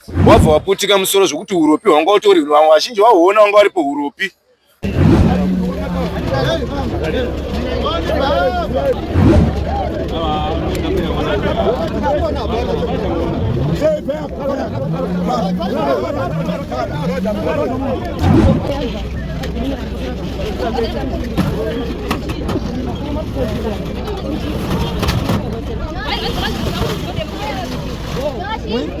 Wabva waputika musoro zvekuti uropi hwanga utori vazhinji vahuona wanga waripo uropi. Thank you.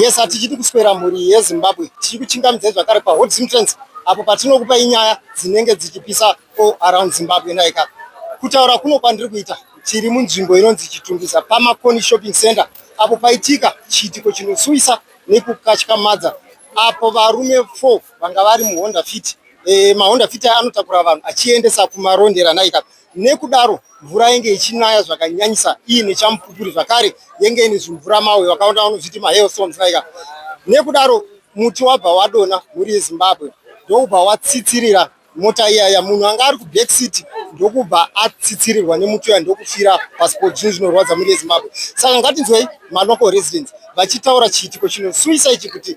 yes hatichidi kuswera mhuri yezimbabwe tichiri kuchingamidzai zvakare pahot simtrance apo patinokupai nyaya dzinenge dzichipisa all around zimbabwe naika kutaura kuno kwandiri kuita tiri munzvimbo inonzi chitungisa pamakoni shopping center apo paitika chiitiko chinosuwisa nekukatyamadza apo varume four vanga vari muhonda fit e, mahonda fit aya anotakura vanhu achiendesa kumarondera naika Nekudaro mvura yenge ichinaya zvakanyanyisa iine chamupupuri zvakare yenge ine zvimvura mawe vakaona vanozviti mahailstones like nekudaro muti wabva wadona mhuri yezimbabwe ndokubva watsitsirira mota iyaya munhu anga ari kuback city ndokubva atsitsirirwa nemuti uya ndokufira pasi po zvinhu zvinorwadza mhuri yezimbabwe saka ngatinzwei malocal residents vachitaura chiitiko chinosuisa ichi kuti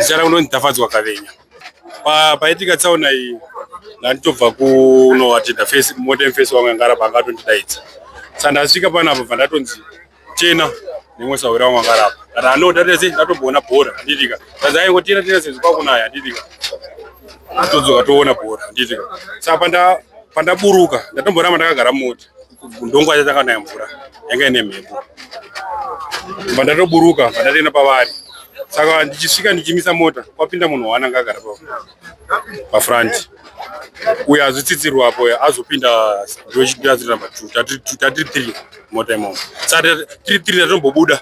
Zita rangu ndonzi Tafadzwa Kavenya. Paitika tsaona iyi ndanditobva kuno atenda face modern face wangu yangara pangatondidaidza. Sandasvika panapa bva ndatonzi Chena nemwe sawira mangara apa. Kana ano data sei ndatombona bhora ndidika. Sasa ayi ngotina tina sezi kwa kunaya ndidika. Atodzoka toona bhora ndidika. Saka panda panda buruka ndatombora manda kagara moti. Ndongo acha taka naye mvura. Yanga ine mhepo. Panda to buruka panda tena pavari. Saka ndichisvika ndichimisa mota kwapinda munhu waana ngagara pa. pafront uyo azvitsitsirwa apo azopinda ndochitira number two tatiri three mota imomo sa tiri three tatombobuda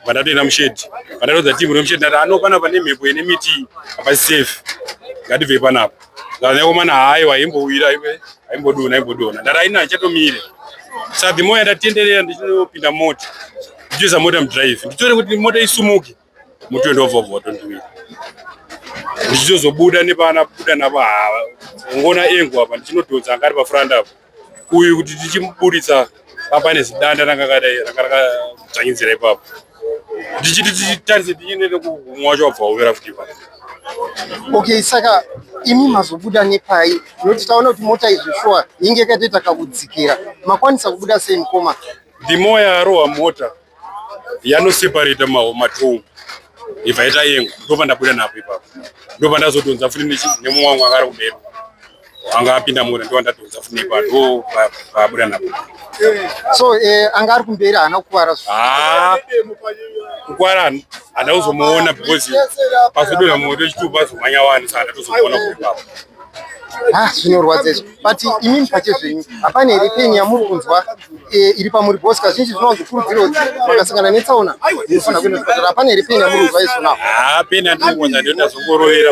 vandatoenda mushedi vandatoudza timu remushedi ndati ano pana pane mhepo ine miti hapasi safe ngatibvei panapa ndanekomana hayo aimbowira aimbodona aimbodona ndati aina achatomire sa the more yandatienderera ndichinopinda mota ndichiisa mota mudrive ndichione kuti mota isumuke mutwende wobvobva tondiwira ndichizozobuda nepavana kubuda navo hava ngona engu apa ndichinodhonza anga ari pafront apo uyu kuti tichimuburitsa papa nezidanda ranga kadai ranga rakadzvanyidzira ipapo ndichiti tichitarise tichiende nekumwa wacho wabva wovera futi ipapo okay saka imi mazobuda nepai nokuti taona kuti mota izvi shuwa yinge yakatoita kakudzikira makwanisa kubuda sei mukoma ndimoya arohwa mota yanoseparata matombo ibva ita yengu ndopa ndabuda napo ipapo ndopa ndazodhonza futi nemumwe wangu akari kumberi anga apinda mura ndopa ndadhonza futi nepa ndo paabuda napo so eh, anga ari kumberi haana kukuvara ah, kukuvara handa kuzomuona because pazodonha moto chitupa zomanya wani sa handa tozomuona kuipapo Ah, zvinorwadza izvo but imimi pache zvenyu hapana here peni yamuri kunzwa eh, iri pamuri bos kazhinji zvinonzi kurudziro kuti makasangana netsaona munofanira kuenda kuchipatara hapana here peni yamuri kunzwa izvo nao haa ah, peni yandiri kunza ndinoita zvongorovera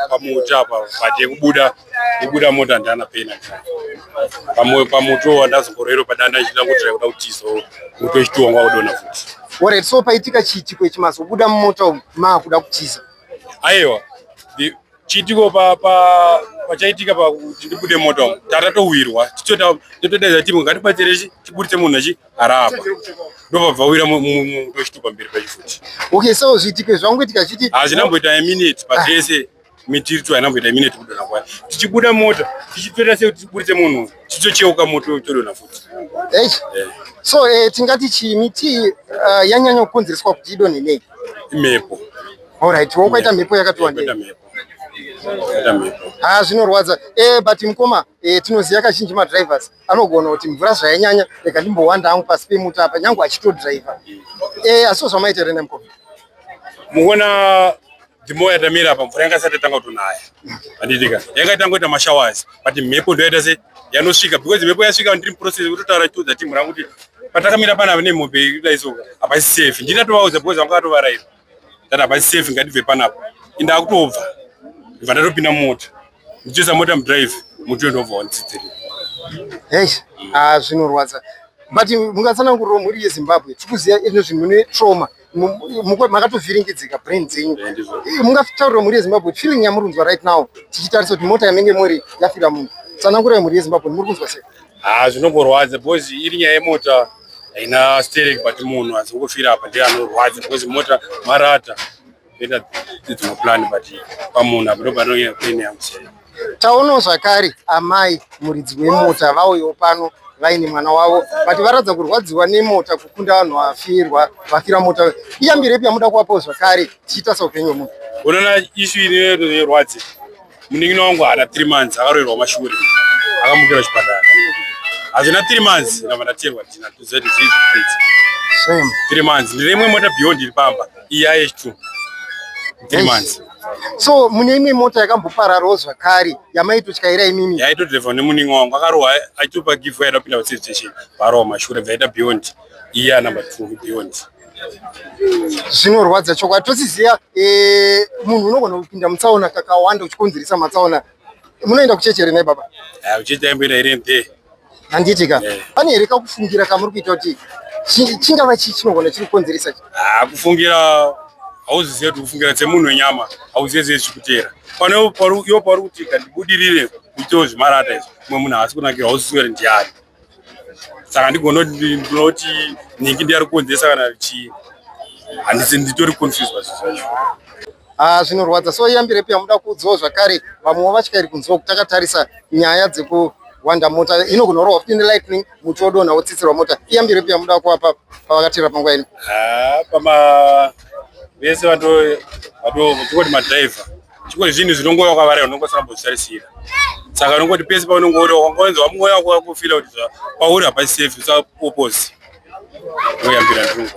pamuti apa but yekubuda yekubuda mota ndana peni pamwe pamuti wo wandazongorovera padanda ichida kuti kuda kuti izo muto ichitiwanga kudona futi oret so paitika chiitiko ichi mazobuda mumota umu maakuda kutiza aiwa chiitiko pachaitika pa, pa, pakuti ndibude mota umu tatatowirwa titodaidza timu ngatibatsire tiburitse munhu achi harapa ndopabva wira muto chitupa mberi pachi futi okay so zviitiko zvangoitika chiti hazvina mboita yeminute pazvese ah. mitiri tu haina mboita yeminute kudona kwaya tichibuda mota tichitoita sekuti tiburitse munhu chichocheuka moto chodonha futi hey. yeah. so eh, tingati chii miti uh, eh, yanyanya kukonzereswa kuti idonhe nei imhepo alright wakaita mhepo yakati wandei ha ah, zvinorwadza e, but mukoma e, tinoziva kazhinji madrivers anogona kuti mvura zvayanyanya rega ndimbowanda hangu pasi pemuta apa nyange achitodriver e, eh, asiwo zvamaita here nemukoma mukuona The more yatamira apa mvura yanga isati yatanga kutonaya. Handitika. Yanga itangoita mashowers but mhepo ndo yaita se yanosvika because mhepo yasvika ndiri process kutotaura to the team rangu kuti patakamira pana vane mombe kudai so hapasi safe. Ndina tovaudza because vanga vatovaraira. That hapasi safe ngatibve panapa. Inda kutobva. Ndibva ndatopinda mota. Ndichisa mota mudrive mutu ndobva wanditsidzira. Hey, ah zvinorwadza. But mungatsanangurira mhuri yeZimbabwe. Tikuziya ino zvinhu ne trauma. makatovhiringidzika brain dzenyu mungataurira mhuri yezimbabwe feeling yamuri kunzwa right now tichitarisa kuti mota yamenge muri yafira munhu tsanangurai mhuri yezimbabwe muri kunzwa sei ah, zvinongorwadza because iri nyaya yemota haina sterek but munhu azongofira apa ndiye anorwadza because mota marata ita dzimwe plan but pamunhu apo ndopanonyaya pain yangu sei Taonawo zvakare amai muridzi wemota vauyawo pano vaine mwana wavo but varatidza kurwadziwa nemota kukunda vanhu vafirwa vafira mota iyambiro ipi yamuda kuvapawo zvakare tichiita saupenyu wemunhu unoona ishu inerwadzi munin'ina wangu haana three months akaroerwa mashure akamukira chipatara hazvina three months ndava ndatengwa ndina tuzeti zvizi three months ndirimwe mota beyond iri pamba Yeah, it's true. Three months. So mune imwe mota yakambopararawo zvakare yamaitotyaira imimi? Yaitodrevha nemunin'ina wangu akarohwa achitopa gift yaida kupinda paservice station parohwa mashure bvaita beyond iya number two beyond zvinorwadza chokwadi tosiziva eh, munhu unogona kupinda mutsaona kakawanda uchikonzeresa matsaona Munoenda kuchechi here baba? Ah, kuchechi taimboenda here mpe. Handiti ka. Eh. Pane here kakufungira kamuri kuita kuti chingava chii chinogona chiri kukonzeresa chi? Ah, kufungira hauzizive kuti kufungira semunhu wenyama hauzive zve zvikuteera. Pane yo pauri kuti kandibudirire kuitawo zvimarata izvo. Mumwe munhu haasi kunakira hauzizive kuti ndiani. saka ndigonoti nhingi ndiyari kukonzesa kana chii handisi nditori confused pazvinhu zvacho ah, zvinorwadza so iyambire pia muda kuudzawo zvakare vamwewo vatyairi kunziwa kuti takatarisa nyaya dzeku wanda mota ino kunorohwa futi nelightning muti wodonha wotsitsirwa mota iyambire pia muda kuwapa pavakatira panguva ino ah, pama vese vato vato kuti madriver chimwe zvinhu zvinongova wakavara unonga usina kuzvitarisira saka unongoti pese paunenge uri wakangonzwa mwoyo wako wakufila kuti pauri hapasi safe usapopozi oyambira ndinongo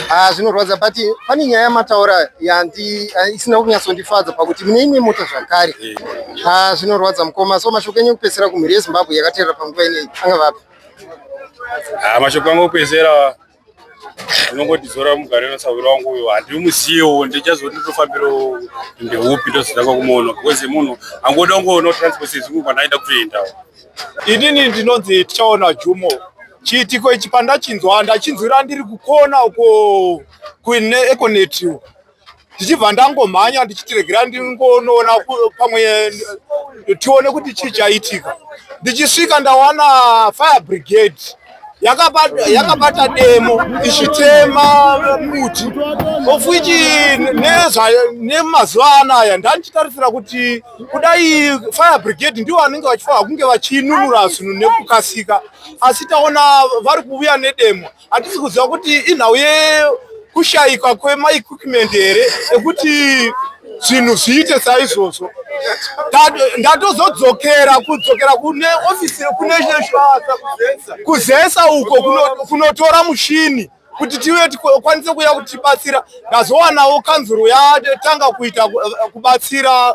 Ah, zvinorwadza but pane nyaya yamataura yandi ah, isina kunyatsondifadza pakuti mune imwe mota zvakare ah, zvinorwadza mukoma so mashoko enyu kupedzisira kumhiri yezimbabwe yakateerera panguva ineyi anga vapi mashoko angu kupedzisira unongotidzora mugare nasahwira wangu uyo handimuziyewo ndichazoti ndotofambirawo ndeupi ndozotanga kumuona because munhu angoda kungoona transport sezvingu kwandaida kutoendawo inini ndinonzi tichaona jumo chiitiko ichi pandachinzwa ndachinzwira ndiri kukona uko kuneeconet ndichibva ndangomhanya ndichiti regera ndingonoona pamwe tione kuti chii chaitika ndichisvika ndawana fire brigade yakabata demo ichitema muti of which nemazuva anaya ndandichitarisira kuti kudai fire brigade ndivo vanenge vachifanira kunge vachinunura zvinhu nekukasika asi taona vari kuuya nedemo Hatisi kuziva kuti inhau yekushayikwa kwemaequipment here ekuti zvinhu zviite saizvozvo ndatozodzokera kudzokera kune ofisi kune kuzesa uko kunotora mushini kuti tive tikwanise kuya kuti tibatsira ndazowanawo kanzuru yatanga kuita eh, kubatsira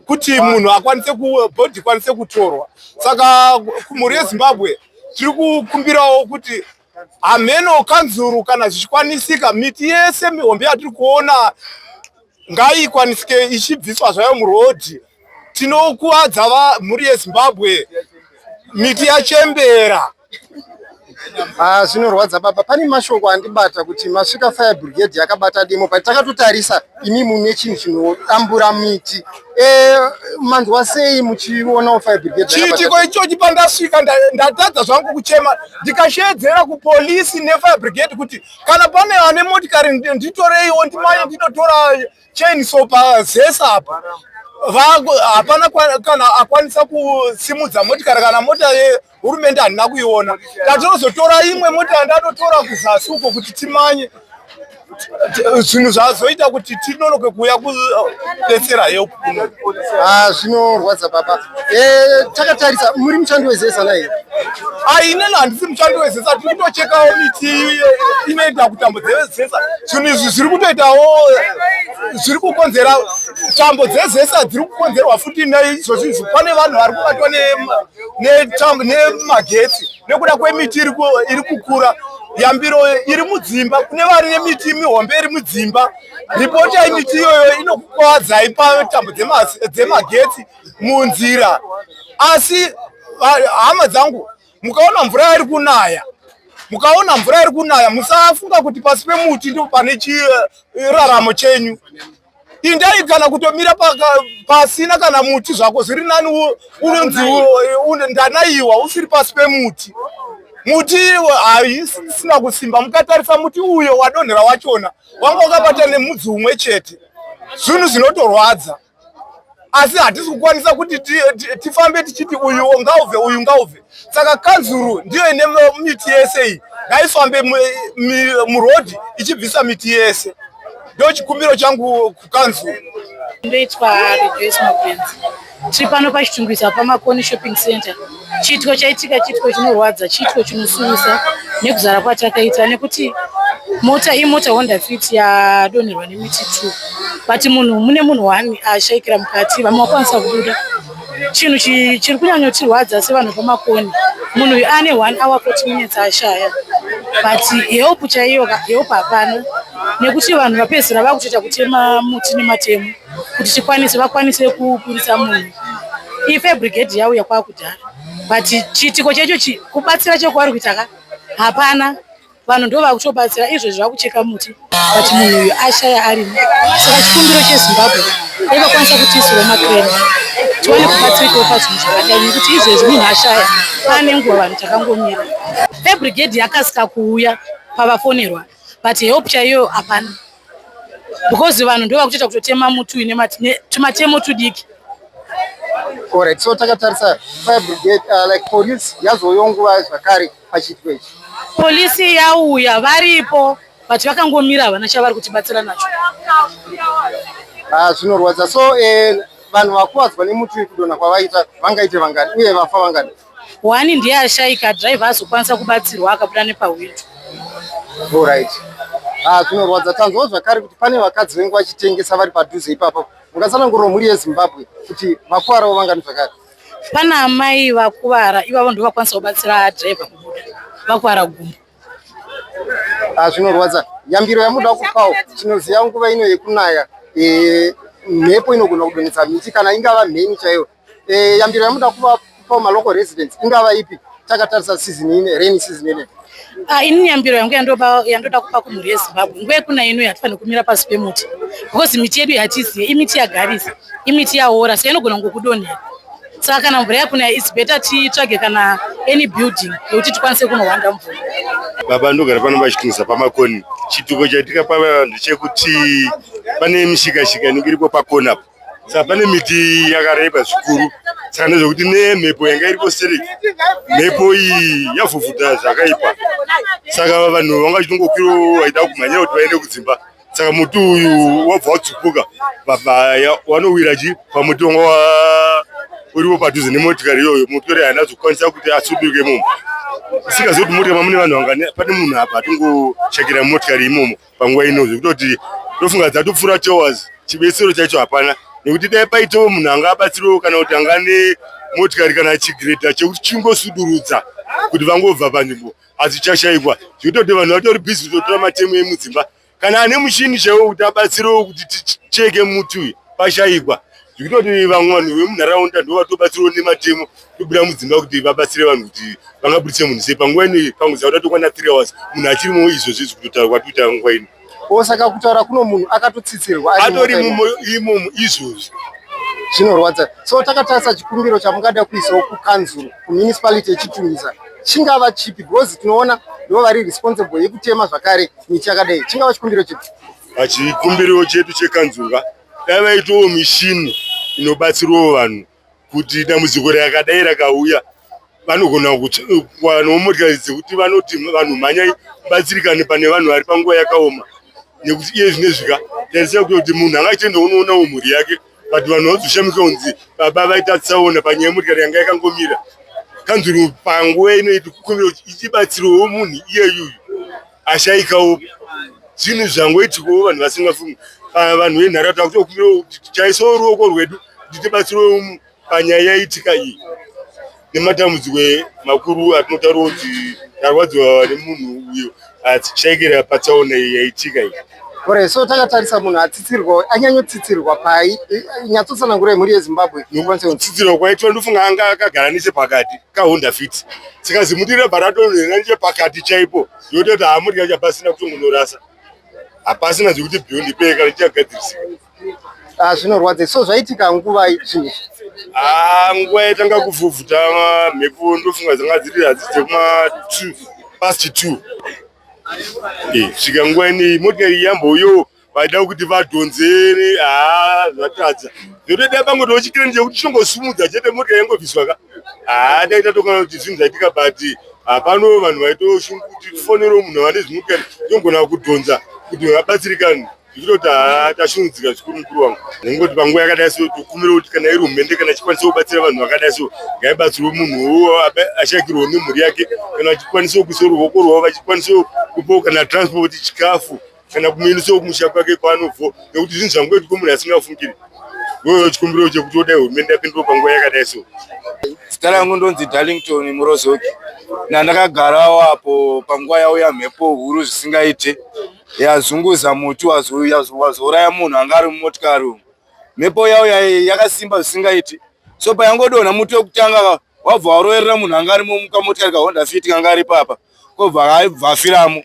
kuti munhu akwanise bhodhi ikwanise kutorwa saka mhuri yezimbabwe tiri kukumbirawo kuti hameno kanzuru kana zvichikwanisika miti yese mihombe yatiri kuona ngaikwanisike ichibviswa zvayo murodhi tinokuvadza mhuri yezimbabwe miti yachembera ah, zvinorwadza baba pane mashoko andibata kuti masvika fire brigade yakabata demo but takatotarisa imi mune chinhu chinodambura miti eh, manzwa sei muchionawo fire brigade chiitiko ichochi pandasvika ndatadza zvangu kuchema ndikashedzera kupolisi nefire brigade kuti kana pane ane motikari nditoreiwo ndimai ndinotora chain so pazesa apa hapana kana akwanisa kusimudza motikari kana mota hurumende handina kuiona tatinozotora imwe mota yandatotora kuzasi uko kuti timanye zvinhu zvazoita kuti tinonoke kuuya kubetsera help kuno ah, zvinorwadza baba eh, takatarisa muri mushandi wezesa naye aine ah, na handisi mushandi wezesa tiri kutochekawo miti inoita kutambo dzezesa zvinhu izvi zviri kutoitawo zviri kukonzera tambo dzezesa dziri kukonzerwa futi naizvozvizvi pane vanhu vari kubatwa ne nemagetsi nekuda kwemiti iri kukura yambiro iri mudzimba kune vari nemiti mihombe iri mudzimba ripoti yemiti iyoyo inokukwadzai patambo dzemagetsi munzira asi hama dzangu mukaona mvura iri kunaya mukaona mvura iri kunaya musafunga kuti pasi pemuti ndipo pane chiraramo chenyu indai kana kutomira pasina kana muti zvako zviri nani unonzi ndanaiwa usiri pasi pemuti muti haisina kusimba mukatarisa muti uyo wadonhera wachona wanga wakabata nemudzi umwe chete zvinhu zvinotorwadza asi hatisi kukwanisa kuti tifambe tichiti uyu ngaubve uyu ngaubve saka kanzuru ndiyo ine miti yese iyi ngaifambe murodhi ichibvisa miti yese ndo chikumbiro changu kukanzuru ndoitwa rejoice mapenzi tiri pano pachitungwiza pamakoni shopping center Chiitiko chaitika chiitiko chinorwadza, chiitiko chinosuwisa nekuzara kwatakaita nekuti mota imota Honda Fit yadonherwa nemiti two but munhu mune munhu one ashaikira mukati vamwe vakwanisa kubuda chinhu chiri kunyanyotirwadza sevanhu pamakoni munhu uyu ane one hour forty minutes ashaya but help chaiyo help hapana nekuti vanhu vapedzisira vakutoita kutema muti nematemo kuti tikwanise vakwanise kuburitsa munhu ife brigade yauya kwakudhara but chiitiko checho chi kubatsira chekwavari kuita ka hapana vanhu ndo vakutobatsira izvo zvakucheka muti but munhu uyu ashaya arimo saka chikumbiro chezimbabwe dai vakwanisa kutiisiro makreni tiwane kubatsirikawo pazvinhu zvakadai nekuti izvezvi munhu ashaya pane nguva vanhu takangomira ebrigade yakasika kuuya pavafonerwa but help chaiyo hapana because vanhu ndo vakutoita kutotema muti uine tumatemo tudiki Alright, so takatarisa fire brigade uh, like police yazouya nguva zvakare pachiitiko ichi polisi yauya varipo but vakangomira havana chavari kutibatsira nacho ah, zvinorwadza so eh, vanhu vakuvadzwa nemuti uyu kudonha kwavaita vangaite vangani uye vafa vangani One ndiye ashaika driver azokwanisa kubatsirwa akabuda nepahwindo. Alright. Ah, zvinorwadza tanzwa zvakare kuti pane vakadzi vengu vachitengesa vari padhuze ipapo. Ungatsanangurira mhuri yeZimbabwe kuti vakuvarawo vangani zvakare? Pana amai vakuvara ivavo ndivo vakwanisa kubatsira driver kubuda vakuvara gumbo. Ah, zvinorwadza. Yambiro yamuda kupawo tinoziva nguva ino yekunaya eh, mhepo inogona kudonhedza miti kana ingava mheni chaiyo Eh, yambiro yamuda kupa kupa malocal residents ingava ipi takatarisa season ine rainy season ine. Ah, ini nyambiro yangu yandoba yandoda kupa kumhuri yezimbabwe nguva yekuna ino yatifanira kumira pasi pemuti because miti yedu yatiziye imiti yagarisa imiti yaora so inogona kungokudonhera saka kana mvura yakuna its better titsvage kana any building yekuti tikwanise kunohwanda mvura baba ndogara pano vachitunza pamakoni chituko chatikapa vanhu chekuti pane mishikashika inenge iripo pakona apo saka pane miti yakareba zvikuru saka nezvekuti nemhepo yanga iripo stereki mhepo iyi yavhuvhuta zvakaipa saka vanhu vanga vachitongokwiro vaida kumhanyira kuti vaende kudzimba saka muti uyu wabva watsupuka wanowira chi pamuti wanga uripo padhuze nemotikari iyoyo motikari haina zokukwanisa kuti asuduke imomo isingazivi kuti motikari mamune vanhu vangani pane munhu apa atongochekera motikari imomo panguva ino zvekutoti tofunga dzatopfuura two hours chibetsero chaicho hapana nekuti dai paitawo munhu anga abatsiriwo kana kuti anga ne motikari kana chigreta chekuti chingosudurudza kuti vangobva panzvimbo asi chashaikwa zvekutoti vanhu vatori bhizi kutotora matemu emudzimba kana ane muchini chaiwo kuti abatsirewo kuti ticheke muti uyu pashaikwa zvikutoti vamwe vanhu vemunharaunda ndo vatobatsirwa nematemo tobuda mudzimba kuti vabatsire vanhu kuti vangabudise munhu sei panguva ino pamwe zaa tatokwana three hours munhu achirimo izvo zvezvi kutotaura kwatikuita nguva ino o saka kutaura kuno munhu akatotsitsirwa atori mumo imomo izvozvi zvinorwadza so takatarisa chikumbiro chamungada kuisawo kukanzuro kumunicipality yechitumisa chingava chipi because tinoona ndivo vari responsible yekutema zvakare miti yakadai chingava chikumbiro chipi pachikumbiro chedu chekanzurwa Dai vaitawo mishini inobatsirawo vanhu kuti dambudziko rakadai rakauya vanogona kuwanawo motikari dzekuti vanoti vanhu mhanyai batsirikane pane vanhu vari panguva yakaoma nekuti iye zvinezvika taisira kuti munhu anga achienda unoonawo mhuri yake but vanhu vazoshamisa kunzi baba vaita tsaona panyaya yemotikari yanga yakangomira kanzuru panguva inoiti kukumbira kuti ichibatsirawo munhu iyeyuyu ashaika upi zvinhu zvangoitikawo vanhu vasingafungi vanhu venharaunda takutokumbirawo kuti taisawo ruoko rwedu kuti tibatsirewo panyaya yaitika iyi nematambudziko makuru atinotaurawo kuti tarwadziwa nemunhu uyo atishaikira patsaona iyi yaitika iyi Ore, so takatarisa munhu atsitsirwa anyanyotsitsirwa pai nyatsotsanangura mhuri yezimbabwe tsitsirwa kwaitwa ndofunga anga akagara nechepakati kahonda fit saka zimuti rebva ratonhera nechepakati chaipo yototi hamudya chapasina kutongonorasa hapasina zvekuti bhiyo ndipee kana tichagadzirisika ah, zvinorwadza so zvaitika nguva zvinhu ah, nguva yaitanga kuvhuvhuta mhepo ndofunga dzanga dziri hadzidze kuma two past two Eh, svika nguva inei motikari yamboyo vaida kuti vadhonzere haa ah, zvatadza zvotoda pamwe tochikirani chekuti tichongosumudza chete motikari yangobviswa ka haa ah, dai tatokana kuti zvinhu zvaitika but hapano ah, vanhu vaitoshungu kuti tifonero munhu vane zvimotikari tongona kudhonza kuti vabatsirikani ndichitoti haa tashungudzika zvikuru mukuru wangu nekungoti panguva yakadai so tokumira kuti kana iri humende kana chikwanisawo kubatsira vanhu vakadai so ngaibatsirwe munhu uwo ashakirwo nemhuri yake kana vachikwanisawo kuisa ruvoko rwavo vachikwanisawo kupawo kana transport chikafu kana kumuendesawo kumusha kwake kwaanobvo nekuti zvinhu zvangoitiko munhu asingafungiri wewo chikumbiro chekuti odai hurumende yapindiro panguva yakadai so zita rangu ndonzi darlington murozoki nandakagarawo apo panguva yauya mhepo huru zvisingaite yazunguza muti wazouraya munhu anga ari mumotikari umu mhepo yawo yakasimba zvisingaiti so payangodonha muti wekutanga wabva waroverera munhu anga arimo mukamotikari kahonda fiti kanga ari papa kobva aibva afiramo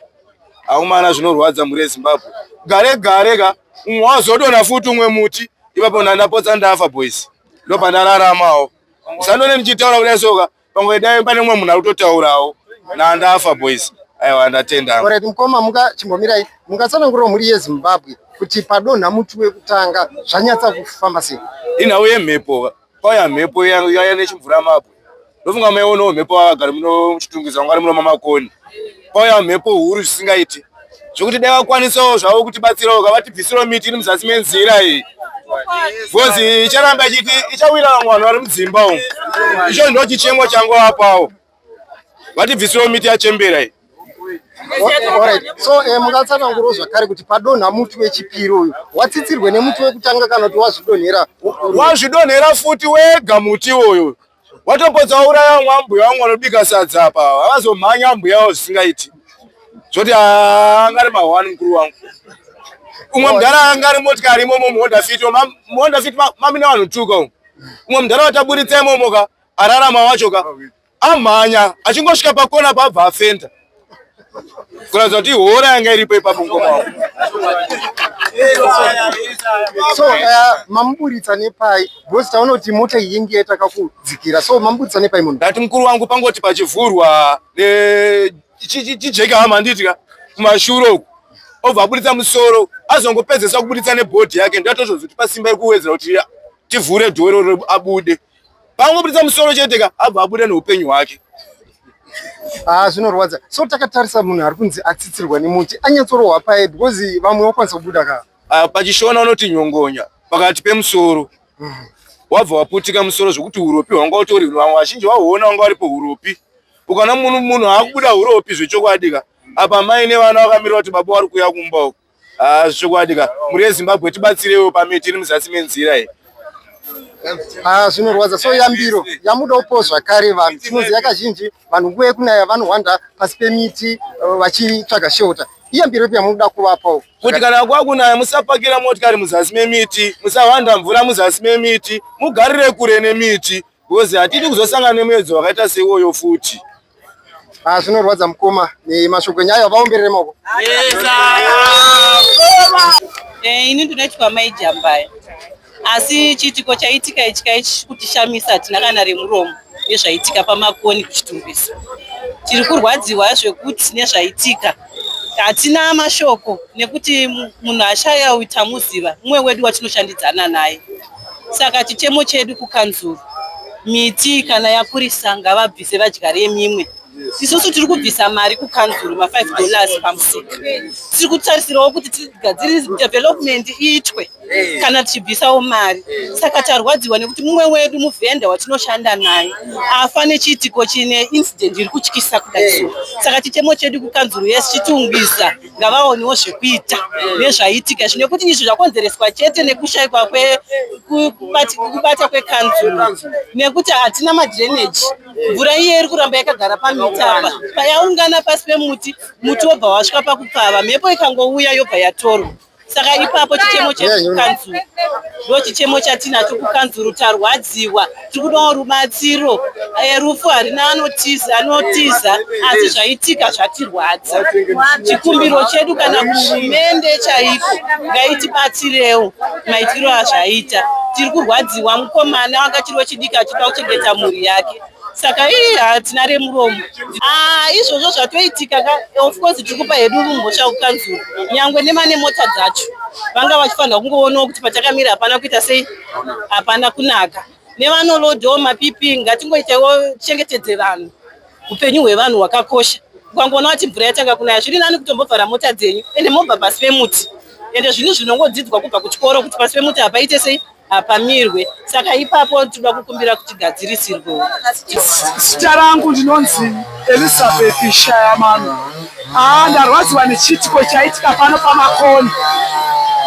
aumana zvinorwadza mhuri yezimbabwe gare gare ka umwe wazodonha futi umwe muti ipapo ndandapotsa ndafa boys ndopandararamawo usandone ndichitaura kudai soka Pamwe dai pane umwe munhu akutotaurawo nandafa boys. Aiwa ndatenda. Alright mukoma muka chimbomirai mukatsanangurira mhuri yeZimbabwe kuti padonha muti wekutanga zvanyatsa kufamba sei. Inhau yemhepo kwauya mhepo yaya nechimvura mabwe ndofunga maionawo mhepo vagari muno muchitungwiza vangari muno mamakoni kwauya mhepo huru zvisingaiti zvekuti dai vakwanisawo zvavo kuti batsirawo kavatibvisirawo miti iri muzasi menzira iyi bcozi icharamba ichiti ichawira vamwe vanhu vari mudzimba umu icho ndo chichemo changu apawo vatibvisirawo miti yachembera iyi so eh, mungatsanangurawo zvakare kuti padonha muti wechipiri uyu watsitsirwe nemuti wekutanga kana kuti wazvidonhera wazvidonhera futi wega muti uyu watopotsa wauraya vamwe ambuya vamwe vanobika sadza apa havazomhanya ambuya avo zvisingaiti zvoti ah, angari mahwani mukuru wangu umwe mudhara anga ari motikari imomo muhonda fit muhonda fit mamina vanhu tuka umu umwe mudhara wataburitsa imomo ka ararama wacho ka amhanya achingosvika pakona paabva afenda kuratidza kuti hora yanga iripo ipapo mukoma wako so uh, mamuburitsa nepai because taona kuti mota yingi yataka kudzikira so mamuburitsa nepai munhu ndati mukuru wangu pangoti pachivhurwa chijeke hama handitya kumashure uku obva aburitsa musoro azongopedzesa kuburitsa nebhodhi yake ndatozvozoti pasimba iri kuwedzera kuti tivhure dhoro abude Paangoburitsa musoro chete ka abva abuda neupenyu hwake. Ah, zvinorwadza. So takatarisa munhu ari kunzi atsitsirwa nemuti anyatsorohwa paye because vamwe vakwanisa kubuda ka. Ah, pachishona unoti nyongonya pakati pemusoro. Mm -hmm wabva waputika musoro zvekuti uropi hwanga utori vamwe vazhinji vahuona vanga varipo uropi ukana munhu munhu akubuda uropi zvechokwadi ka apa mai nevana vakamirira kuti baba wari kuuya kumba uko Ah, zvokwadi ka mhuri yezimbabwe tibatsirewo pamiti iri muzasi menzira iyi Ah, zvinorwadza so yambiro yamuda upo zvakare vanhu tinoziva kazhinji vanhu nguva yekunaya vanohwanda pasi pemiti eh, vachitsvaga shelter iyambiro ipi yamunoda kuvapawo kuti kana kwakunaya musapakira motikari muzasi memiti musahwanda mvura muzasi memiti mugarire kure nemiti because hatidi kuzosangana nemuedzo wakaita seiwoyo futi Ah, zvinorwadza mukoma nemashoko enyu ayo vaomberere maoko eh, ini ndinoitwa mai jambaya asi chiitiko chaitika ichi kaichi kutishamisa hatina kana remuromo nezvaitika pamakoni kuchitumbisa tiri kurwadziwa zvekuti nezvaitika hatina mashoko nekuti munhu ashaya uyu tamuziva mumwe wedu watinoshandidzana naye saka chichemo chedu kukanzuru miti kana yakurisa ngavabvise vadyare mimwe isusu tiri kubvisa mari kukanzuru ma5 dollars pamusika tiri kutarisirawo kuti tigadziri development iitwe Eh. kana tichibvisawo mari eh. saka tarwadziwa nekuti mumwe wedu muvhenda watinoshanda naye afa nechiitiko chine incident iri kutyisa kudai eh. saka chichemo chedu kukanzuru yese chitiungwiza ngavaonewo zvekuita nezvaiitika izvi nekuti izvi zvakonzereswa chete nekushaikwa kwekubata kwekanzuru nekuti hatina madreneji mvura iye iri kuramba yakagara pamitapa payaungana pasi pemuti muti wobva wasvika pakupfava mhepo ikangouya yobva yatorwa saka ipapo chichemo chekanzuru ndo chichemo chatinacho kukanzuru tarwadziwa tiri kudawo rubatsiro eh, rufu harina anotiza anotiza asi zvaitika zvatirwadza chikumbiro chedu kana kuhurumende chaiko ngaitibatsirewo maitirwo azvaita tiri kurwadziwa mukomana wakachiriwo chidiki achida kuchengeta mhuri yake saka ii hatina remuromo ah, izvozvo zvatoitika ka of course tiri kupa hedu mhosva kukanzura nyangwe nemane mota dzacho vanga vachifanira kungoonawo kuti patakamira hapana kuita sei hapana kunaka nevanolodhawo mapipi ngatingoitaiwo chengetedze vanhu upenyu hwevanhu hwakakosha ukangoona kuti mvura yatanga kunaya zviri nani kutombovhara mota dzenyu ende mobva pasi pemuti ende zvinhu zvinongodzidzwa kubva kuchikoro kuti pasi pemuti hapaite sei hapamirwe saka ipapo tinoda kukumbira kuti gadzirisirwe zita rangu ndinonzi elizabeth shayamano aa ah, ndarwadziwa nechiitiko chaitika pano pamakoni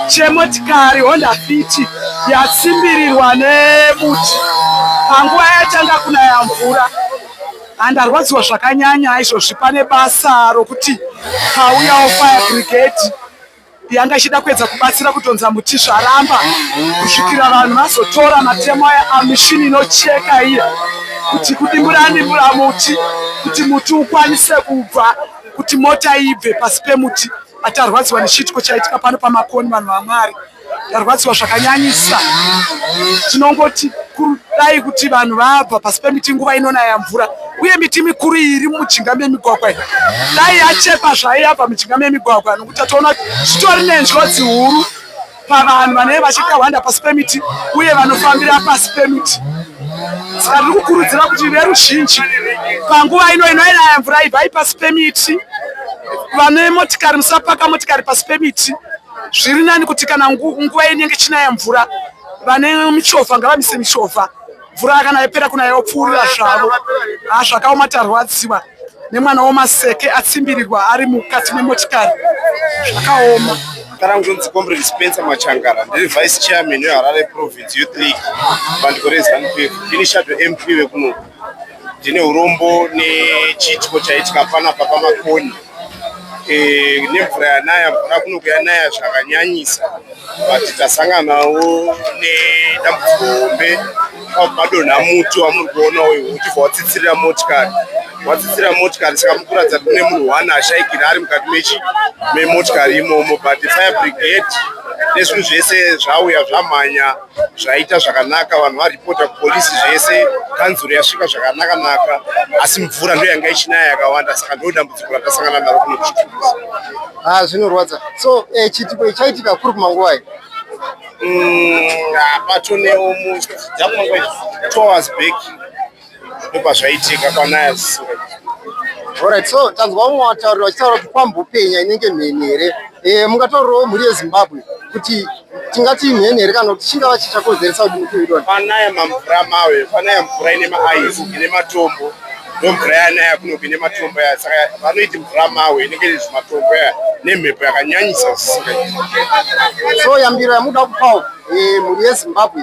chemotikari honda fiti yatsimbirirwa nebuti panguva yatanga kunaya mvura handarwadziwa zvakanyanya izvozvi pane basa rokuti pauyawo fire brigade yanga ichida kuedza kubatsira kutonza muti zvaramba kusvikira vanhu vazotora matemo aya amishini inocheka iya kuti kudimbura dimbura muti kuti muti ukwanise kubva kuti mota ibve pasi pemuti atarwadziwa nechiitiko chaitika pano pamakoni vanhu vamwari tarwadziwa zvakanyanyisa tinongoti kudai kuti vanhu vabva pasi pemiti nguva inonaya mvura uye miti mikuru iri mumujinga memigwagwa dai yachekwa zvaiyabva mujinga memigwagwa Tatoona zvitori nenjodzi huru pavanhu vanenge vachikahwanda pasi pemiti uye vanofambira pasi pemiti saka tiri kukurudzira kuti veruzhinji panguva ino inoinaya mvura ibvai pasi pemiti vane motikari musapaka motikari pasi pemiti zviri nani kuti kana nguva inenge chinaya mvura vane michovha ngavamise michovha mvura kana yapera kuna yopfuurira zvavo ah, zvakaoma tarwadziwa nemwana womaseke atsimbirirwa ari mukati memotikari zvakaoma kana kunzonzi comrade spencer machangara ndiri vice chairman weharare province youth league bandiko rezanup ndini shadow mp vekuno ndine urombo nechitiko chaitika panapa pamakoni eh, nemvura yanaya mvura kuno kuyanaya zvakanyanyisa but tasanganawo nedambudziko hombe pamadonha muti wamuri kuona uyu uchibva watsitsirira motikari watsitsira motikari saka mukuratidza kune munhu one ashaikira ari mukati mechi memotikari imomo but fire brigade nezvinhu zvese zvauya zvamhanya zvaita zvakanaka vanhu varipota kupolisi zvese kanzuru yasvika zvakanaka naka asi mvura ndo yanga ichinaya yakawanda saka ndo dambudziko ratasangana naro kuno kuchitukusa ah, zvinorwadza so eh, chitiko ichaitika kuri kumanguva i mm, ah, patonewo mu two hours back nepazvaitika kwanaya sisira Alright, so tanzwa umwe wataurira vachitaura kuti kwambopenya inenge mheni here e, mungataurirawo mhuri yezimbabwe kuti tingati imheni here kana kuti chingava chichakonzeresa kuti mukuidona panaya mamvura mawe panaya mvura ine maaisi ine matombo ndomvura yanaya kunoku ine matombo ya saka vanoiti mvura mawe inenge ine zvimatombo ya nemhepo yakanyanyisa zisika so yambiro yamuda kupawo e, mhuri yezimbabwe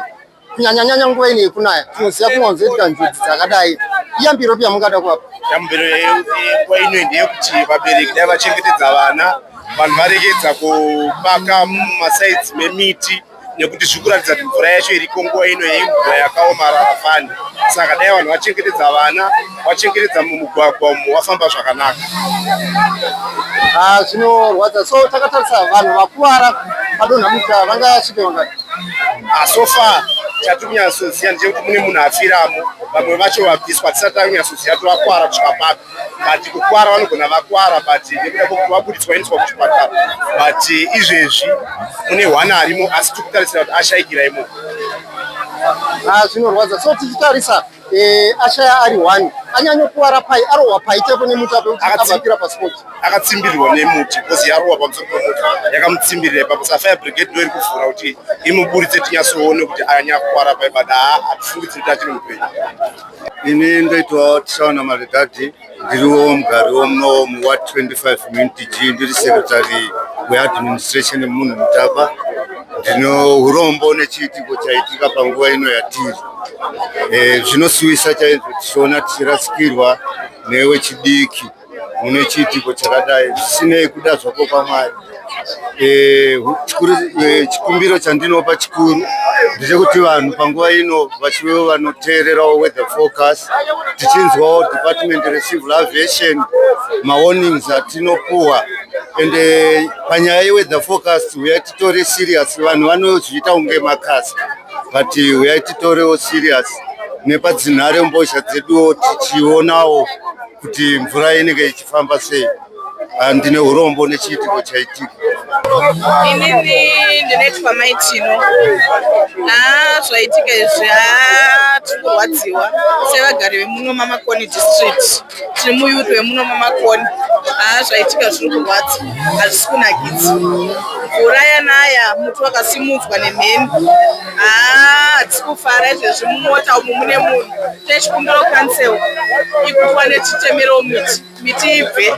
kunyanyanyanya nguva ino yekunaya tinoziva kunwanzoitika njodzi dzakadai iyambiro pi yamungada kuapa yambiro nguva ino ndeyekuti vabereki dai vachengetedza vana vanhu varekedza kupaka mumasaidzi memiti nekuti zviri kuratidza kuti mvura yacho iriko nguva ino yemvura yakaomarara fani saka dai vanhu vachengetedza vana wachekeredza mumugwagwa umo wafamba zvakanaka ah, zvinorwadza so takatarisa vanhu vakuvara padonha muta vanga vasvike vangati ah, so far chatiri kunyatsoziva ndechekuti mune munhu afiramo vamwe vacho vabviswa tisati tari kunyatsoziva kuti vakwara kusvika papi but kukwara vanogona vakwara but nekuda kwekuti vabuditswa vaendiswa kuchipatara but izvezvi mune one arimo asi tiri kutarisira kuti ashaikira imomo ah, zvinorwadza so tichitarisa Eh, ashaya ari one anyanyokuwara pai arohwa pai chaipo nemuti apo kuti Akatsi- abvapira paspot akatsimbirirwa nemuti kozi yarohwa pamusoro pemuti yakamutsimbirira ipapo sa fire brigade ndo iri kuvhura kuti imuburitse tinyasoone kuti anyakuwara paipada haa hatifungidzi kuti achiri mupenyu ini ndoitwa tichaona maredhadhi ndiriwo mugari womuno muward 25 muntg ndiri secretary weadministration munhu mutapa ndino urombo nechiitiko chaitika panguva ino yatiri eh, zvinosuwisa chaizvo tichiona tichirasikirwa newechidiki mune chiitiko chakadai zvisinei kuda zvako kwamwari Eh, eh, chikumbiro chandinopa chikuru ndechekuti vanhu panguva ino vachivewo vanoteererawo weather forecast tichinzwawo department recivil aviation mawarnings atinopuwa ende eh, panyaya yeweather forecast huyai titore serious vanhu vanozviita kunge makasi but huyai titorewo serious nepadzinhare mbozha dzeduwo tichionawo kuti mvura inenge ichifamba sei Ah, ndine hurombo nechiitiko chaitika inini ndinoitwa mai tino haa ah, zvaitika izvi haa ah, tiri kurwadziwa sevagari vemuno mamakoni district tiri muyuth wemuno mamakoni haa zvaitika zviri kurwadza hazvisi kunakidzi uraya naya muti wakasimudzwa nemheni haa hatisi kufara izvezvi mumota umu mune munhu techikumbiro council ikuwane chitemerewo miti miti ibve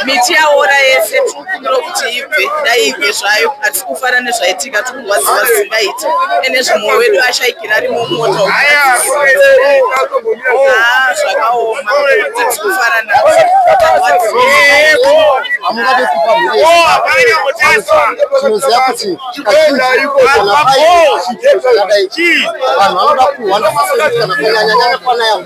miti yaora yese tikumbira kuti ibve dai ibve zvayo hatisi kufara nezvaitika tikurwadziwa zvisingaiti ene zvimwoyo wedu ashaikira ari mumota ah, zvakaoma hatisi kufara nazvo tinoziva kuti vanhu vanoda kuhwanda kana kunyanyanyanya kwanaya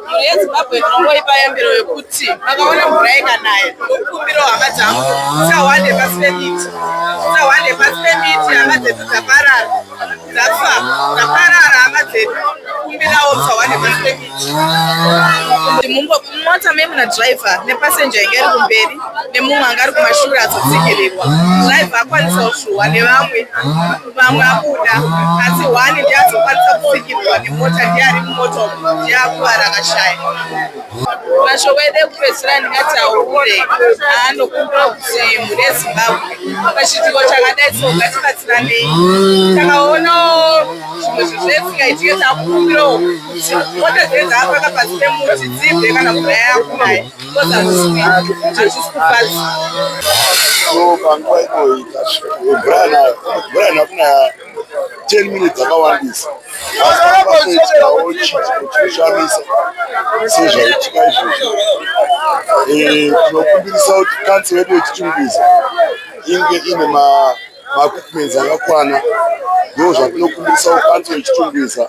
Mhuri yeZimbabwe ndinongoipa yambiro yokuti vakaona mvura ikanaya ndokukumbirawo hama dzangu dzisahwande pasi pemiti dzisahwande pasi pemiti hama dzedu dzaparara dzafa dzaparara hama dzedu kumbirawo dzisahwande pasi pemiti mumota me muna driver nepasenja inge iri kumberi nemumwe anga ari kumashure azotsikirirwa driver akwanisawo shuwa nevamwe vamwe akuda asi hwani ndiazokwanisa kusikirwa nemota ndiari mumoto ndiakuvara akashaya masho wede kupedzisira ndingati aure aanokumbira kuti mune zimbabwe pachiitiko chakadai so ngatibatsiranei takaonawo zvimwe zvinhu zvesingaitike takukumbirawo kuti mota dzedu dzaapaka pasi pemuti dzibve kana kuda yakunaye panguva inoyi brian akuna 10 minutes akawandisa aaaoitawo chikushamisa sezvaitika izvozvo eh, tinokumbirisa kuti kansi yedu yechichunguza inge ine makukumenzi akakwana ndo zvatinokumbirisa kukansi yechichunguza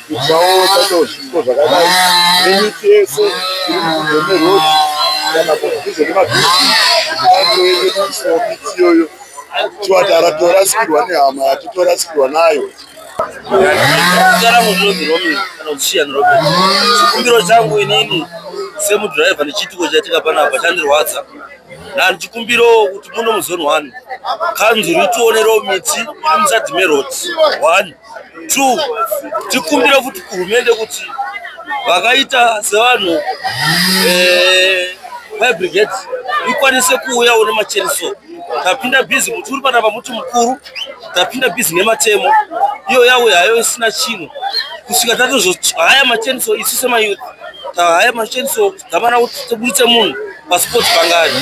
Usaona chero zvipo zvakadai nemiti yese iri mudhuze merodhi kana kudhuze nemabhiriji anoende kuisawo miti iyoyo chiwati aratorasikirwa nehama yake torasikirwa nayo chikumbiro changu inini semudhiraivha nechiitiko chaitika panapa chandirwadza nani chikumbiro kuti muno muzone one kanzuru itionerewo miti iri muzadhi meroti one True. Tikumbire kuti kuhumende kuti vakaita sevanhu eh, fire brigade ikwanise kuuya one macheriso tapinda busy muti uri panapa muti mukuru tapinda busy nematemo iyo yauya hayo isina chinhu kusvika tatozohaya macheniso isu semayouth tahaya macheniso tamana kuti tibuditse munhu pasport pangani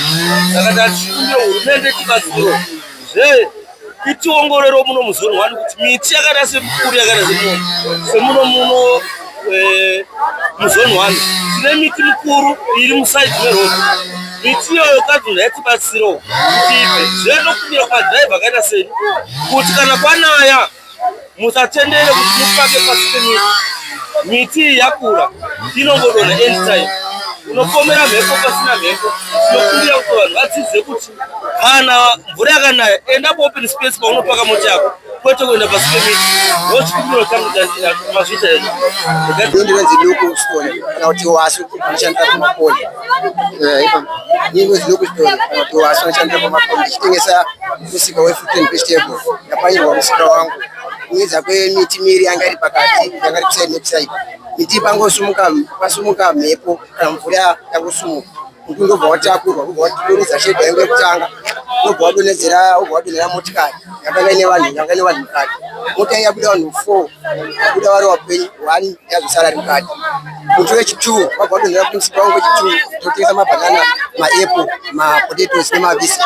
saka tatikumbire hurumende tibatsiro zvee kutiongorero muno muzoni wani kuti miti yakaita semukuru yakaita semuno semuno muno eh, muzoni wani tine miti mikuru iri musaidi meroad miti iyoyo kadhunhu yatibatsirawo kuti zviya ndokumira kumadhiraivha akaita sei kuti kana kwanaya musatendere kuti mupake pasi penyika miti iyi yakura inongodona anytime unopomera mhepo pasina mhepo tinokumbira kuti vanhu vadzidze kuti kana mvura yakanaya enda paopen space paunopaka mota yako kwete kuenda pasi pemiti ndochikumbiro changu mazvita ezvo ndinonzi local stone kana kuti wasu anoshandira pamaponi eh, ipa ndinonzi local stone kana kuti wasu anoshandira pamaponi ndichitengesa musika wefruit and vegetable ndapanyirwa musika wangu kuedza kwemiti miri yanga iri pakati yanga iri kuside nekuside miti pangosumuka pasumuka mhepo kana mvura yangosumuka muti ndobva watakurwa ubva watoridza shedha yangu yekutanga ubva wadonhedzera ubva wadonhera motikari yakanga ine vanhu yanga ine vanhu mukati mota yabuda vanhu four yabuda vari wapenyu one yazosara ri mukati Muti wechituwo wabva wadonhera kuti musika wangu wechituwo tinotengesa mabhanana, maepo, mapotatoes nemavisi.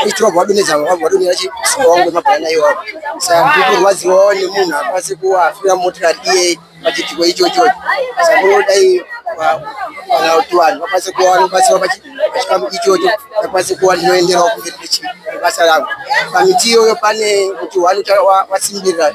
Wechituwo wabva wadonhedza wabva wadonhera musika wangu wemabhanana iwawo. Saka ndiri kurwadziwawo nemunhu akwanise kuafira motikari iye pachitiko ichocho. Saka ndodai kana kuti vanhu vakwanise kuva vanobatsirwa pachikamu ichocho vakwanise kuva ndinoenderawo kumberi basa rangu pamiti iyoyo pane kuti wani wasimbirira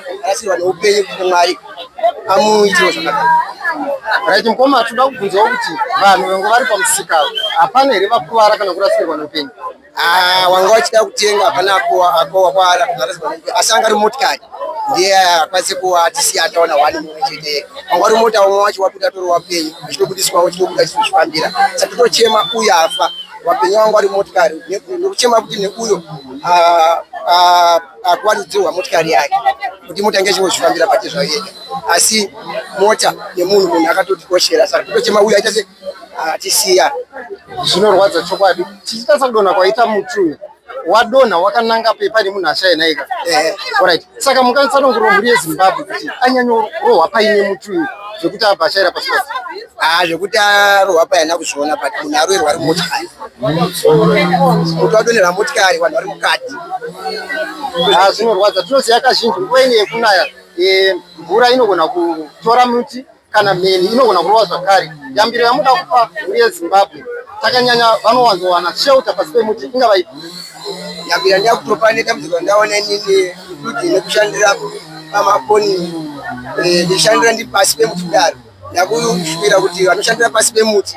Arasirwa neupenyu kuna Mwari amuitire zvakanaka. Right mkoma toda kubvunzawo kuti vanhu vangu vari pamusika hapana here vakuvara kana kurasirwa neupenyu? Ah, wanga wachida kutenga hapana akowa kwara asi anga ari motikari ndiye akwanise kuwa tisi ataona wani mumwe chete wanga ari mota umwe wacho wabuda toro wapenyu chitobudiswa chitobuda chitozvifambira saka tochema uyo afa wapenyu wangu ari motikari nekuchema kuti neuyo ah, ah, akuwaridzirwa motikari yake kuti mota inge ichingozvifambira pake zvayo yega asi mota yemunhu munhu akatotikoshera saka kutochema uyu aita se atisiya zvinorwadza chokwadi tichitasa kudonha kwaita muti uyu wadonha wakananga pepa nemunhu ashainaika eh. orit saka mukanisa nongoro mhuri yezimbabwe kuti anyanyorohwa paine muti uyu zvekuti abva ashaira pasi pasi Ah, zvekuti arohwa paya na kuzviona but munhu aroerwa ari motikari kuti wadonera motikari vanhu vari mukati ah, zvinorwadza tinoziva kazhinji nguva ine yekunaya eh, mvura inogona kutora muti kana mheni inogona kurova zvakare yambiro yamuda kupa mhuri yezimbabwe takanyanya vanowanzowana shelter pasi pemuti ingava ipi yambiro yandida kutopa nedambudziko randaona inini kuti nekushandira pamafoni eh, ndishandira ndi pasi pemuti kudaro Ndakushuvira kuti vanoshandira pasi pemuti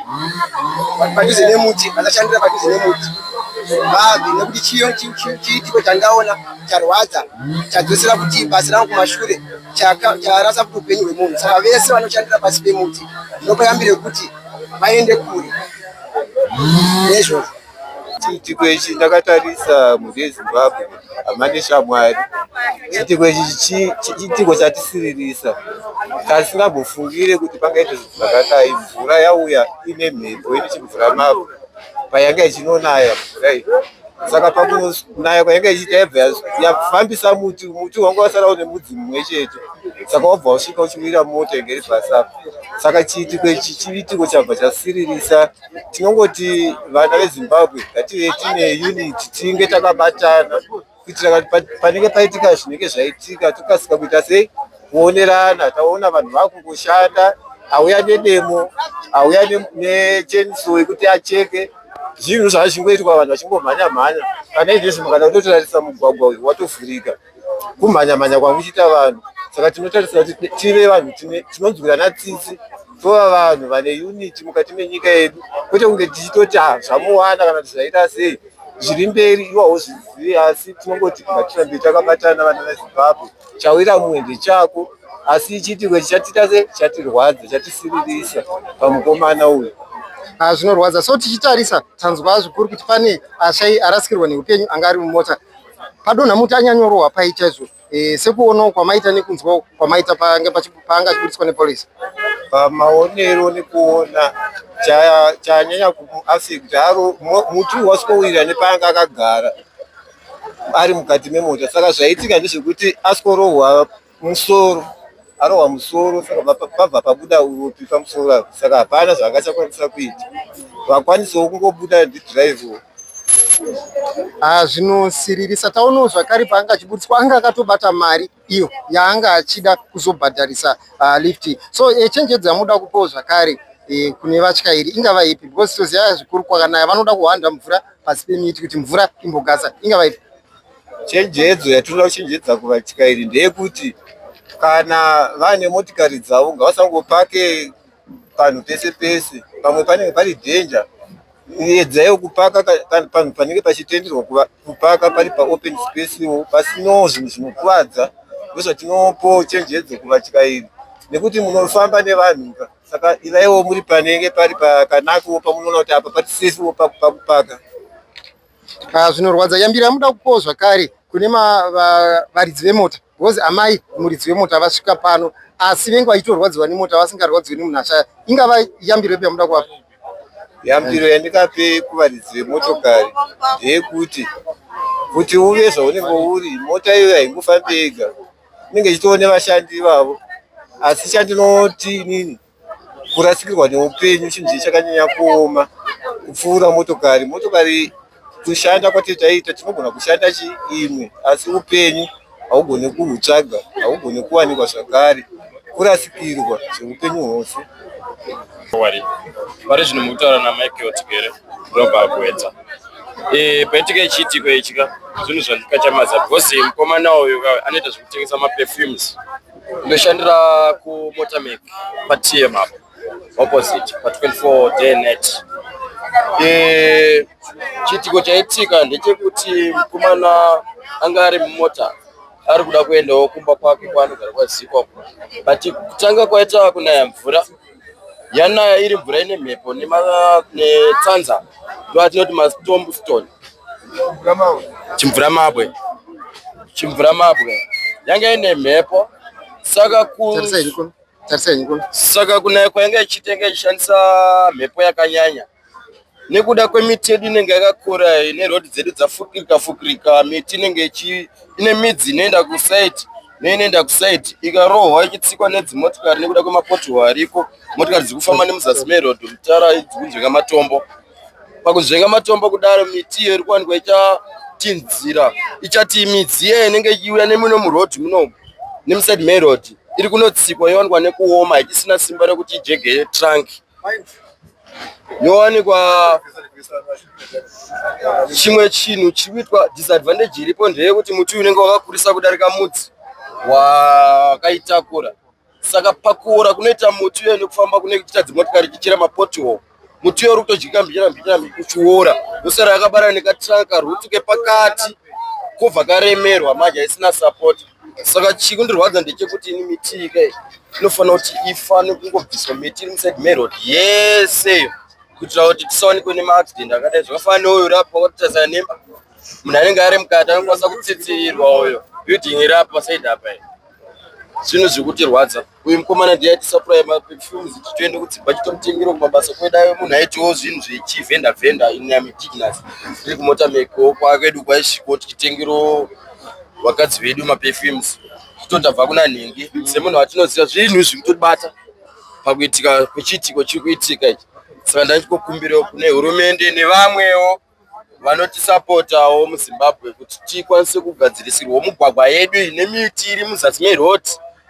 padhuze nemuti vasashandira padhuze nemuti vabve nekuti chiitiko chandaona charwadza chadzosera kuti basa rangu kumashure charasa kuti upenyu hwemunhu saka vese vanoshandira pasi pemuti ndinopa yambiro yekuti vaende kure nezvozvo Chiitiko ichi ndakatarisa mhuri yeZimbabwe hama neshamwari. Chiitiko ichi chiitiko chatisiririsa tasingambofungire kuti pangaita zvinhu zvakadai. Mvura yauya ine mhepo ine chimvura mabwe payanga ichinonaya mvura iyi saka pakunaya kwayanga ichiita yabva yafambisa muti muti wanga wasara une mudzi mumwe chete saka wabva wasvika uchimira mota inge iri pasapa saka chiitiko ichi chiitiko chabva chasiririsa tinongoti vana vezimbabwe ngative tine unit tinge takabatana kuitira kuti panenge paitika zvinenge zvaitika tokasika kuita sei kuonerana taona vanhu vakungoshanda auya nedemo auya necheniso yekuti acheke zvinhu zvazvingoitwa vanhu vachingomhanya mhanya kana izvezvi mukana kutotarisa mugwagwa uyu watovhurika kumhanya mhanya kwangu chiita vanhu saka tinotarisira kuti tive vanhu tinonzwirana tsitsi tova vanhu vane unity mukati menyika yedu kwete kunge tichitoti ah, zvamuwana kana kuti zvaita sei zviri mberi iwa hozvizivi asi tinongoti ngatirambe takabatana vana vezimbabwe chawira mumwe ndechako asi ichiitirwe chichatiita se chatirwadza chatisiririsa pamukomana uyu ah, zvinorwadza so tichitarisa tanzwa zvikuru kuti pane ashai arasikirwa neupenyu anga ari mumota padonha muti anyanyorohwa pai chaizvo e, sekuonawo kwamaita nekunzwawo kwamaita paanga achiburitswa nepolisi pamaonero nekuona chanyanya kuaffect aro muti wasikowira nepaanga akagara ari mukati memota saka zvaitika ndezvekuti asikorohwa musoro arohwa musoro saka pabva pabuda uropi pamusoro apo saka hapana zvaakachakwanisa kuita vakwanisawo kungobuda ndidrivewo ah, zvinosiririsa taonawo zvakare paanga achiburitswa anga akatobata mari iyo yaanga achida kuzobhadharisa uh, lift so eh, chenjedzi yamuda kupawo zvakare eh, kune vatyairi ingava ipi because toziva zvikuru kwakanaya vanoda kuhwanda mvura pasi pemiti kuti mvura imbogasa ingava ipi Chenjedzo yatinoda kuchenjedza kuvatyairi ndeyekuti kana vane motikari dzavo ngavasangopake panhu pese pese, pamwe panenge pari dhenja. Edzaiwo kupaka panhu panenge pachitenderwa kupaka pari paopen spacewo pasinawo zvinhu zvinokuvadza. Ndozvatinopo chenjedzo kuvatyairi nekuti munofamba nevanhu ka saka ivaiwo muri panenge pari pakanakiwo pamunoona kuti apa pari sesiwo pakupaka. Ah, zvinorwadza yambira muda kukowo zvakare kune varidzi vemota because amai muridzi wemota vasvika pano asi vengu vachitorwadziwa nemota vasingarwadziwi nemunhu ashaya ingava yambiro yepi yamuda kuvapa yambiro yandikape kuvaridzi vemotokari ndeyekuti kuti uve zvaunenge uri mota iyoyo haingofambi yega inenge ichitoo nevashandi ivavo asi chandinoti inini kurasikirwa neupenyu chinhu chii chakanyanya kuoma kupfuura motokari motokari kushanda kwati taita tinogona kushanda chiimwe asi upenyu haugone kuhutsvaga haugone kuwanikwa zvakare kurasikirwa zveupenyu hwose wari vari zvinhu mukutaura namichael tigere robva kuedza eh, paitika ichiitiko ichika zvinhu zvandikachamaza because mukomana uyu anoita zvekutengesa maperfumes Ndoshandira ku Motamec pa TM apo opposite pa 24 day net. Eh, chiitiko chaitika ndechekuti mukomana anga ari mumota ari kuda kuendawo kumba kwake kwaanogara kwaZiko, but kutanga kwaita kunaya mvura yanaya iri mvura ine mhepo netsanza ndoatinoti mastomb stone chimvura mabwe chimvura mabwe yanga ine mhepo saka ku saka kunaya kwayanga ichiita yanga ichishandisa mhepo yakanyanya nekuda kwemiti yedu inenge yakakura neroad dzedu dzafukirika fukirika miti inenge ine midzi inoenda kusaidi neinoenda kusaidi ikarohwa ichitsikwa nedzimotikari nekuda kwemapotiho ariko motikari dziri kufamba nemuzasi meroad mutara dzikunzvenga matombo pakunzvenga matombo kudaro miti iyo iri kuwanikwa ichatinzira ichati midzi iye inenge ichiuya nemuno muroad muno nemusaidi meroad iri kunotsikwa yowanikwa nekuoma ichisina simba rekuti ijegeye tranki Yowanikwa chimwe chinhu chiri kuitwa disadvantage iripo ndeyekuti muti uyu unenge wakakurisa kudarika mudzi wakaitakura saka pakuora kunoita muti uyo nekufamba kune kuita dzimotikari chichera mapotiwo muti uyo uri kutodyika mbichana mbichana uchiora yosara yakabara nekatranka rutu kepakati kobva karemerwa manje haisina sapoti saka chikundirwadza ndechekuti ini miti ika inofanira kuti ifane kungobviswa miti iri musaid merod yese kuitira kuti tisawanikwe nemaaccident akadai zvakafana neuyo uri apa watarisana nemba munhu anenge ari mukati anokwanisa kutsitsirirwa uyo building iri apa said apa zvinhu zviri kutirwadza uyu mukomana ndiye atisapuraya maperfumes kuti tiende kudzimba chitomutengera kumabasa kwedayo munhu aitiwo zvinhu zvechivhenda vhenda inamidignas tiri kumota meko kwakedu kwaisviko tichitengero vakadzi vedu maperfumes totobva kuna nhingi semunhu watinoziva zvinhu izvi kutobata pakuitika kwechiitiko chiri kuitika ichi saka ndaichikokumbirawo kune hurumende nevamwewo vanotisapotawo muzimbabwe kuti tikwanise kugadzirisirwa mugwagwa yedu iyi nemiti iri muzasi meroad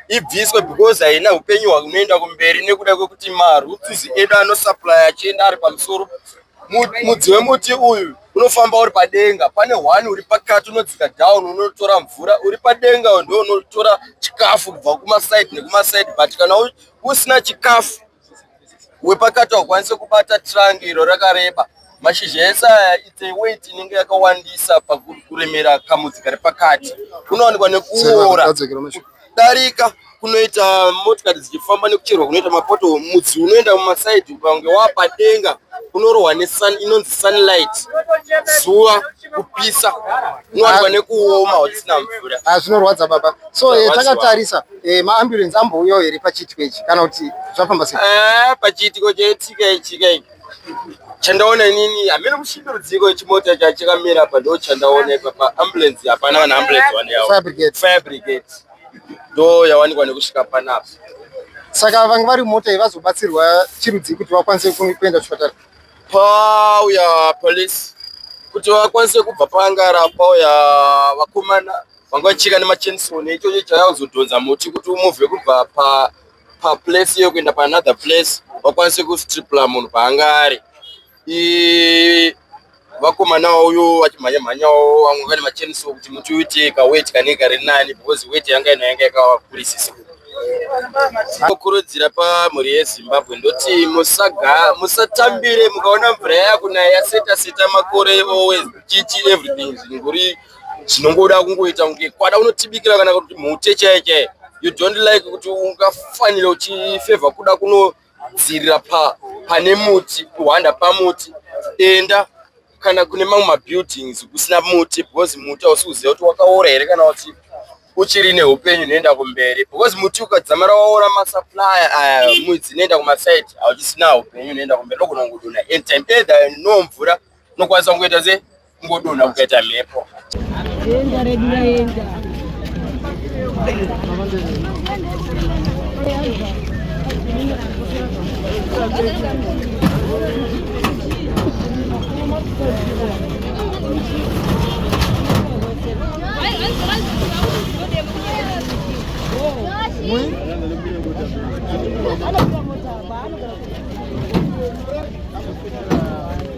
ibviswe because haina upenyu hwakunoenda kumberi nekuda kwekuti marutsuzi edu anosuplya achienda ari pamusoro mudzi wemuti uyu unofamba uri padenga pane one uri pakati unodzika down unotora mvura uri padenga ndo unotora chikafu kubva kumasaidi nekumasaidi but kana usina chikafu wepakati haukwanise kubata trunk iro rakareba mashizha ese aya it's a weight inenge yakawandisa pakuremera kamudzi kari pakati kunowanikwa nekuora kudarika kunoita motikari dzichifamba nekucherwa kunoita mapoto mudzi unoenda mumasaidi ukange wapadenga unorohwa nesun inonzi sunlight zuva kupisa unowanikwa nekuoma hautisina mvura ah, zvinorwadza baba so eh, takatarisa Eh, maambulensi ambouyawo here pachiitiko ichi kana kuti zvafamba sei? Eh, pachiitiko chaitika ichika iki chandaona inini hameno kusvika rudziko chimota chachakamira apa ndo chandaona ipapa ambulensi hapana vanhu ambulensi vaneyavo Fire brigade. fire brigade ndo yawanikwa nekusvika panapa Saka vanga vari mota iyi vazobatsirwa chirudzii kuti vakwanise ku- kuenda kuchipatara? pauya police kuti vakwanise kubva paangara pauya vakomana vanga vachika nemachainsaw neichocho chaya kuzodhonza muti kuti umuvhe kubva pa paplace iyo kuenda paanother place vakwanise kustripla munhu paanga ari vakomanawo uyo vachimhanya mhanyawo vamwe vane machainsaw kuti muti uite kaweti kanenge kari nani because weti yanga ino yanga yakakurisisa kurudzira pamhuri yezimbabwe ndoti musaga musatambire mukaona mvura yakunaya yaseta seta makore always chichi everything zvinguri chinongoda kungoita kunge kwada unotibikira kana kuti mhute chaiye chaiye you don't like kuti ungafanira uchifevha kuda kunodzirira pa pane muti kuhwanda pamuti enda kana kune mamwe mabuildings kusina muti because muti hausi kuziva kuti wakaora here kana kuti uchiri neupenyu unoenda kumberi because muti ukadzamara waora masupplier aya eh, mwidzi inoenda kumaside hauchisina upenyu unoenda kumberi ndokunonguduna anytime either no mvura unokwanisa kungoita sei Kungodonha kukaita mhepo. Denga redu raenda. Thank you.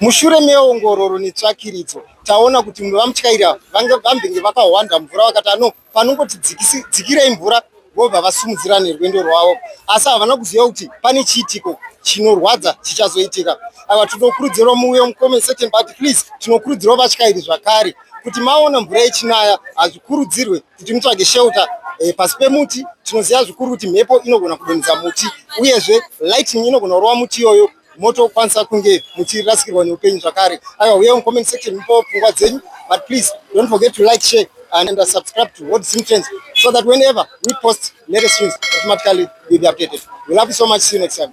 Mushure meongororo netsvakiridzo taona kuti vamutyaira vambenge vakahwanda mvura vakati anopa panongoti dzikirei mvura vobva vasimudzira nerwendo rwavo asi havana kuziva kuti pane chiitiko chinorwadza chichazoitika ava tinokurudzirwa muuyo mucomment section but please tinokurudzirwa vatyairi zvakare kuti maona mvura yechinaya hazvikurudzirwe kuti mutsvage shelter e, pasi pemuti tinoziva zvikuru kuti mhepo inogona kudonhedza muti uyezve lightning inogona kurova muti iyoyo motokwanisa kunge muchirasikirwa neupenyu zvakare aiwa uye mucomment section mupo pfungwa dzenyu but please don't forget to like share and, and subscribe to world sim trends so that whenever we post latest news automatically you'll be updated we love you so much see you next time